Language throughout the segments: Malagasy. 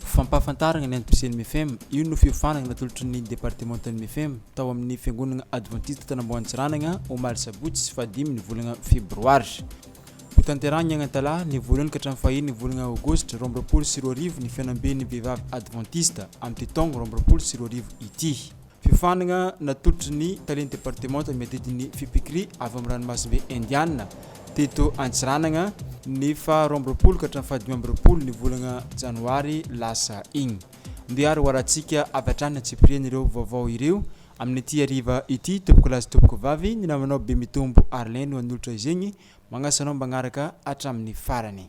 Fampahafantarana ny antom-pisian'ny Mifem, Io no fiofanana natolotry ny departemantan'ny Mifem tao amin'ny Fiangonana Advantista Tanamboantsiranana, omaly sabotsy faha dimy ny volana febroary. Hotanterahina Agnantalaha, ny voalohany ka hatramin'ny faha enina volana aogositra roa amby roapolo sy roa arivo ny Fihaonamben'ny Vehivavy Advantista, amin'ity taogno roa amby roapolo sy roa arivo ity. Fiofanana natolotry ny Talen'ny Departemanta miadidy ny Fipikri avy amin'ny Ranomasimbe Indiana, teto Antsiranana, ny faha roa amby roapolo ka hatramin'ny faha dimy amby roapolo ny volana Janoary lasa iny. Ndeha ary ho arantsika avy hatrany antsipiriany ireo vaovao ireo amin'ity hariva ity. Tompokolahy sy tompokovavy, ny namanao Bemitombo Arlin no hanolotra izegny. Magnasa anao magnaraka hatramin'ny farany.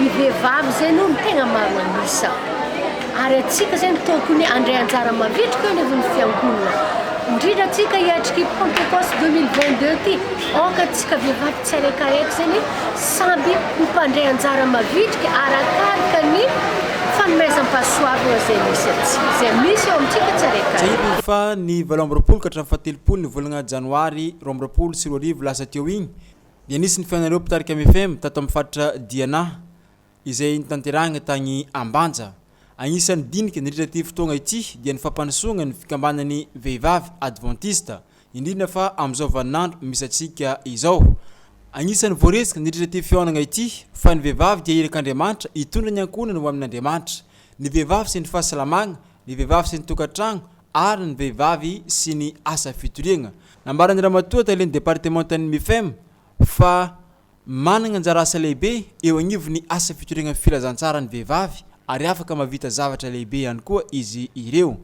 ny vehivavy zay aloha no tegna maro an'isa ary antsika zay no tôkony handray anjara mavitrika eo anivon'ny fiangonana indrindra antsika hiatriky pentecoste 2022 ty ôka antsika vehivavy tsy araikaraiky zany samby ho mpandray anjara mavitrika arakaraka ny fanomezam-pahasoavana zay misy antsika zay misy eo amintsika tsy araikaraiky Tsahivy fa ny valo amby roapolo ka hatramin'ny fahatelopolo ny volagna janoary roa amby roapolo sy roa arivo lasa teo igny, dia nisy ny fihaonan'ireo mpitarika Mifem tato amin'ny faritra Diana, izay notanterahina tany Ambanja. Anisan'ny dinika nandritra ity fotoagna ity dia ny fampandrosoagna ny fikambanan'ny vehivavy advantista, indrindra fa amin'izao vaninandro misy antsika izao. Anisan'ny voaresaka nandritra ity fihaonagna ity fa ny vehivavy dia irak'Andriamanitra hitondra ny ankohonany ho amin'Andriamanitra. Ny vehivavy sy ny fahasalamagna ny vehivavy sy ny tokantragno ary ny vehivavy sy ny asa fitoriagna. Nambaran'ny Ramatoa Talen'ny Departemantan'ny Mifem fa managna anjara asa lehibe eo agnivon'ny asa fitoriagna filazantsara ny vehivavy ary afaka mahavita zavatra lehibe ihany koa izy ireo.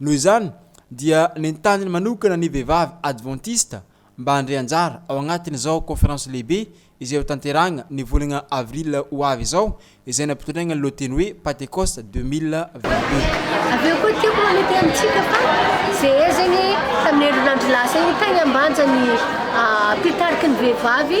Noho izany dia nentaniny manokana ny vehivavy advantista mba handray anjara ao anatin'izao Conférence lehibe izay hotanterahina ny volana avril ho avy izao, izay nampitondraina ny lohateny hoe Patekosta 2022. Avy eo koa tiako manetry amintsika fa zehey zegny tamin'ny herinandro lasa igny tany Ambanja ny mpitarikiny vehivavy.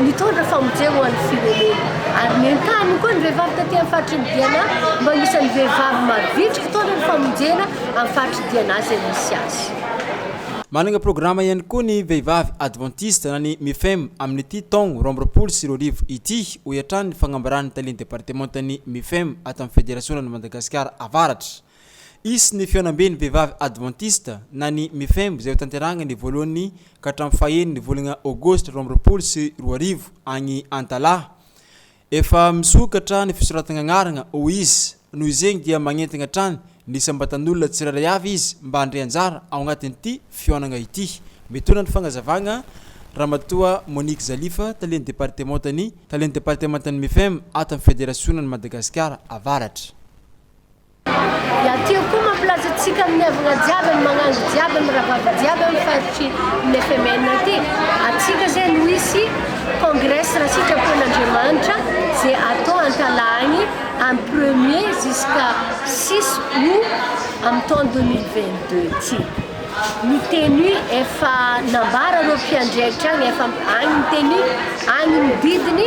Nitondra famonjena ho an'ny firenena ary nentaniny koa ny vehivavy taty amin'ny faritry ny Diana mba ho isan'ny vehivavy mavitrika hitondra ny famonjena amin'ny faritry Diana izay misy azy. Manana programa ihany koa ny vehivavy advantista na ny Mifem amin'ity taogno roa amby roapolo sy roa arivo ity, hoy hatrany ny fagnambaran'ny talen'ny departemantan'ny Mifem ato amin'ny Federasionan'i Madagasikara Avaratra. Hisy ny Fihaonamben'ny Vehivavy Advantista, na ny Mifem, izay hotanterahina ny voalohany ka hatramin'ny fahen'ny volana Aogositra roa amby roapolo sy roa arivo, any Antalaha. Efa misokatra ny fisoratana anarana, hoy izy. Noho izegny dia magnentagna hatrany ny isam-batan'olona tsirairay avy izy mba handre anjara ao anatin'ity fihaonagna ity. Mitondra ny fagnazavagna Ramatoa Monique Zalifa, talen'ny departemantan'ny talen'ny departemantan'ny Mifem ato amin'ny Federasionan'i Madagasikara Avaratra. Iatio koa mampilaza antsika amin'ny havana jiaby, amin'ny magnangy jiaby, amin'ny rahavavy jiaby amin'ny faritry ny FMN aty. Antsika zay no hisy congrès raha sitrapon' Andriamanitra zay atao Antalahagny amin'ny premier jusqu'à six aout amin'ny taona deux mille vingt deux ty. Ny tenue efa nambara ireo mpiandry ahitra any efa any ny tenue any ny didiny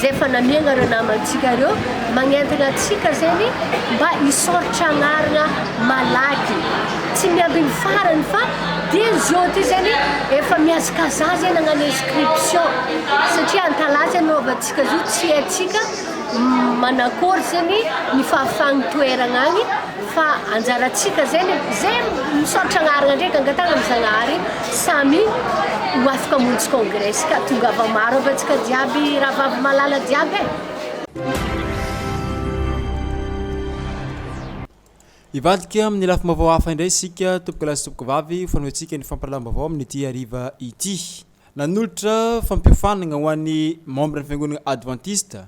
zay efa namiagna ireo namantsika ireo magnentagna antsika zegny mba hisaoritra agnarana malaky tsy miamby ny farany fa dia zao ty zegny efa mihazakazaha zay nagnano inscription satria an-kalaza no avantsika zao tsy haintsika manakôry zegny ny fahafahagny toeragna agny Fa anjarantsika zay le ze misaotra agnarana ndray gangatagna am zagnahary samy ho afaka amonjy congrès ska tongava maro aby atsika jiaby rahavavy malala jiaby e. Hivadika amin'ny lafim-baovao hafa indray isika, tompokolahy sy tompokovavy, ho fanohentsika ny fampahalalam-baovao amin'ity hariva ity. Nanolotra fampiofanagna ho an'ny membran'ny Fiangonagna Advantista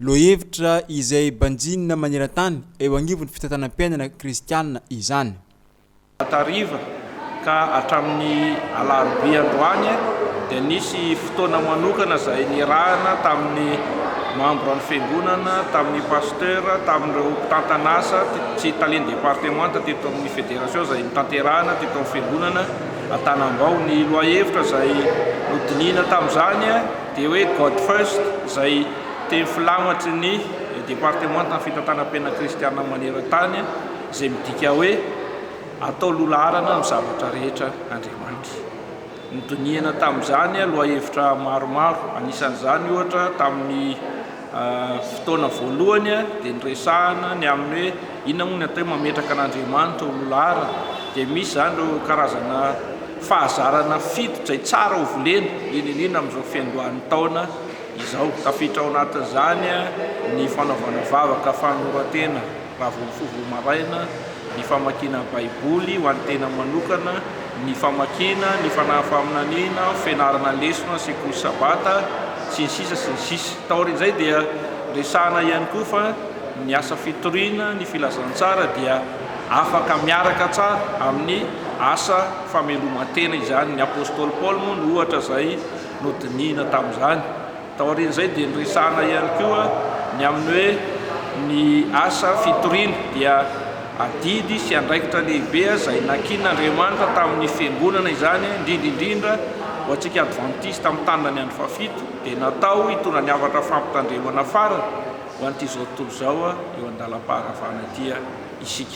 Lohahevitra izay banjinina maneran-tany eo anivon'ny fitantanam-piainana kristiana izany. Hariva ka hatramin'ny alarobia androany dia nisy fotoana manokana izay nirahana tamin'ny mambran'ny fiangonana, tamin'ny pasteur, tamin'ireo mpitantan'asa sy talen'ny departemanta teto amin'ny federation izay notanterahina teto amin'ny fiangonana Antanambao. Ny lohahevitra izay nodinihina tamin'izany. Dia hoe God first izay teny filamatry ny Departemantan'ny Fitantanam-piainana Kristianina maneran-tany izay midika hoe Atao Loha-laharana amin'ny zavatra rehetra Andriamanitra. Nodinihana tamin'izany lohahevitra maromaro, anisan'izany ohatra tamin'ny. Fotoana voalohany dia niresahana ny amin'ny hoe inona moa ny atao hoe mametraka an'Andriamanitra ho loholahara, dia misy izany ireo karazana fahazarana fito izay tsara ho volena indrindra indrindra amin'izao fiandohan'ny taona izao, tafiditra ao anatin'izany ny fanaovana vavaka fanoloran-tena Raha vao mifoha vao maraina, ny famakiana Baiboly ho an'ny tena manokana, ny famakiana, ny fanahy faminaniana, fianarana lesona, sekoly sabata, sy ny sisa sy ny sisa Taorian'izay dia resahina ihany koa fa ny asa fitoriana ny filazantsara dia afaka miaraka tsara amin'ny asa fameloman-tena izany Ny apostoly Paoly moa no ohatra izay nodinihina tamin'izany. Taorian'izay dia niresahana ihany koa ny amin'ny hoe ny asa fitoriana dia adidy sy andraikitra lehibe izay nankin'Andriamanitra tamin'ny Fiangonana izany, indrindra indrindra ho antsika Advantista mitandrina ny andro fahafito dia natao hitondra ny hafatra fampitandremana farany ho an'ity izao tontolo izao eo an-dalam-paharavana ity isika.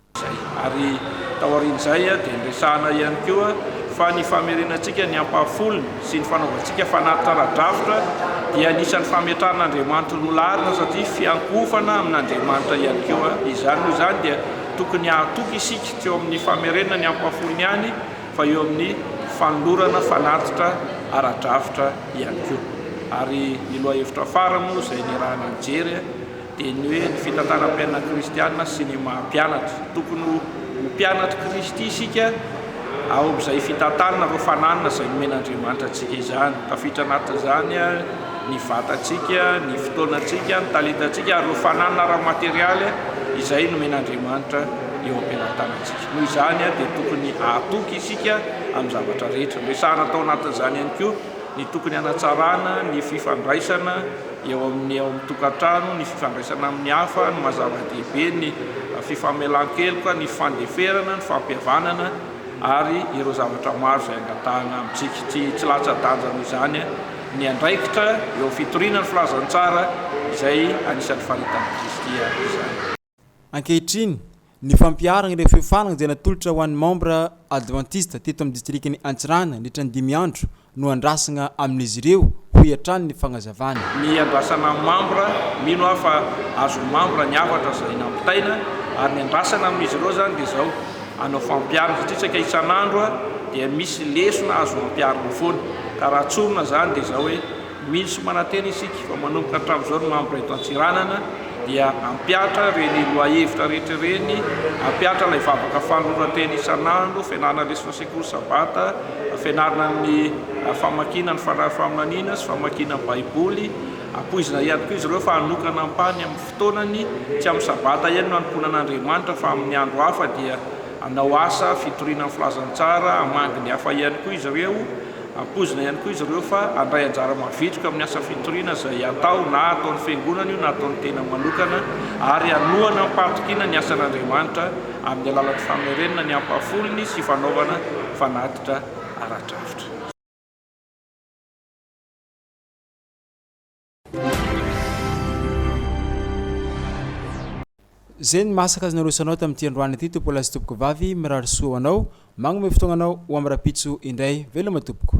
Ary taorian'izay dia niresahana ihany koa fa ny famerenantsika ny ampahafolony sy ny fanaovantsika fanatitra ara-drafitra dia anisan'ny fametrahan'Andriamanitra ho lohalaharana satria fiankohofana amin'Andriamanitra ihany koa izany. Noho izany dia tokony hahatoky isika tsy eo amin'ny famerenana ny ampahafolony ihany fa eo amin'ny fanolorana fanatitra ara-drafitra ihany koa. Ary ny lohahevitra fara moa izay niarahana nijery dia ny hoe ny fitantaram-piainana kristiana sy ny maha mpianatra. Tokony ho mpianatr'i Kristy isika ao amin'izay fitantanana ireo fananana izay nomen'Andriamanitra antsika izany. Tafiditra anatin'izany ny vatantsika, ny fotoanantsika, ny talentantsika ary ireo fananana ara-materialy izay nomen'Andriamanitra eo am-pelantanantsika. Noho izany dia tokony hahatoky isika amin'ny zavatra rehetra. Resahana tao anatin'izany ihany koa ny tokony hanatsarana ny fifandraisana, Eo amin'ny ao amin'ny tokantrano, ny fifandraisana amin'ny hafa no mazava dehibe, ny fifamelan-keloka, ny fandeferana, ny fampihavanana ary ireo zavatra maro izay angatahana amintsika. Tsy tsy latsa-danja noho izany ny andraikitra eo amin'ny fitoriana ny filazantsara izay anisan'ny faritany Kristy avy izany. Ankehitriny, ny fampiharana ireo feo farany izay natolotra ho an'ny membra advantista teto amin'ny distrikan'i Antsiranana nandritra ny dimy andro no andrasana amin'izy ireo, hoy hatrany ny fanazavana. Ny andrasana amin'ny membra, mino aho fa azon'ny membra ny hafatra izay nampitaina, ary ny andrasana amin'izy ireo izany dia izao, hanao fampiharana satria saika isan'andro dia misy lesona azo ampiharina foana, ka raha tsorina izany dia izao hoe. Mino sy manantena isika fa manomboka hatramin'izao ny membre eto Antsiranana dia hampihatra ireny lohahevitra rehetra ireny, hampihatra ilay vavaka fanoloran-tena isan'andro, fianarana lesona an-tsekoly sabata, fianarana ny famakiana ny Fanahy Faminaniana sy famakiana ny Baiboly. Ampoizina ihany koa izy ireo fa hanokana ampahany amin'ny fotoanany, tsy amin'ny sabata ihany no hanompoana an'Andriamanitra fa amin'ny andro hafa dia hanao asa fitoriana ny Filazantsara, hamangy ny hafa ihany koa izy ireo. Ampoizina ihany koa izy ireo fa handray anjara mavitrika amin'ny asa fitoriana izay hatao na ataon'ny Fiangonana io na ataon'ny tenany manokana ary hanohana am-pahatokiana ny asan'Andriamanitra amin'ny alalan'ny famerenana ny ampahafolony sy fanaovana fanatitra ara-drafitra. Zay ny masaka azo narosoanao tamin'ity androany ity tompolahy sy tompokovavy, mirary soa ho anao, magnome fotoagnanao ho amin'ny rahampitso indray, veloma tompoko.